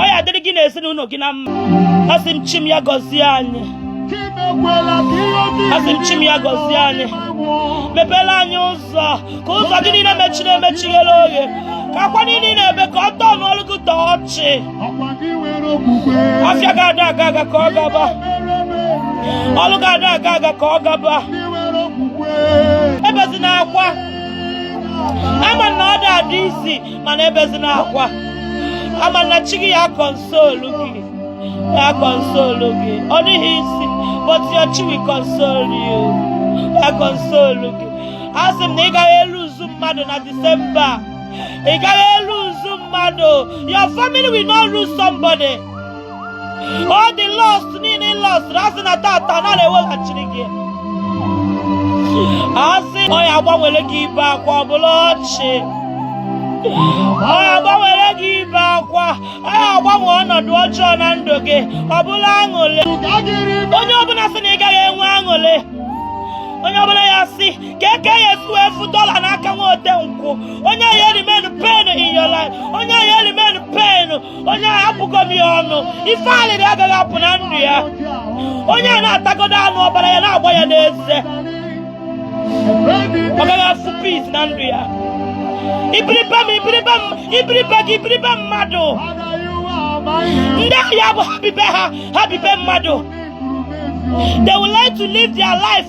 ọ ya adịrị gị na ezinụlọ gị na mma asị m chi m ya gọzie anyị asị m chi m ya gọzie anyị mepere anyị ụzọ ka ụzọ gị niile mechiri emechi ghere oghe ka akwa niile ị na-ebe ka ọ tọnọlụ gị to ọchị afịa gị ada aga aga ka ọ gaba ọlụ gị ada aga aga ka ọ gaba ebezina akwa ama m na ọ da adị easy mana ebezina akwa ama m na chi gị ya console gị ya console gị ọ dịghị easy but your chi will console you ya console gị a sị m na ị gaghị elose mmadụ na december a. ị gaghị elose mmadụ your family will not lose somebody all the lost niile lọsụrụ asị na taata na a na-eweghachiri gị asị ọ ya agbanwere gị ibe akwa ọ bụlụ ọchị ọ ya agbanwere gị ibe akwa ọ ya agbanwe ọnọdụ ọjọọ na ndụ gị ọ bụlụ aṅụlị onye ọbụla sị na ị gaghị enwe aṅụlị onye ọbụla ya sị ka eke ya efu efu dọla n'aka nwa ote nkwụ onye ya eremain pain in your life onye ya eremain pain onye a abụgo m ya ọnụ ife alịlị agaghị apụ na ndụ ya onye a na-atagodo anụ ọbara ya na-agba ya n'eze ọ gaghị afụ peace na ndụ ya ibiribe m ibiribe m ibiribe gị ibiribe mmadụ ndị ahịa bụ ha bibe ha ha bibe mmadụ they will learn to live their life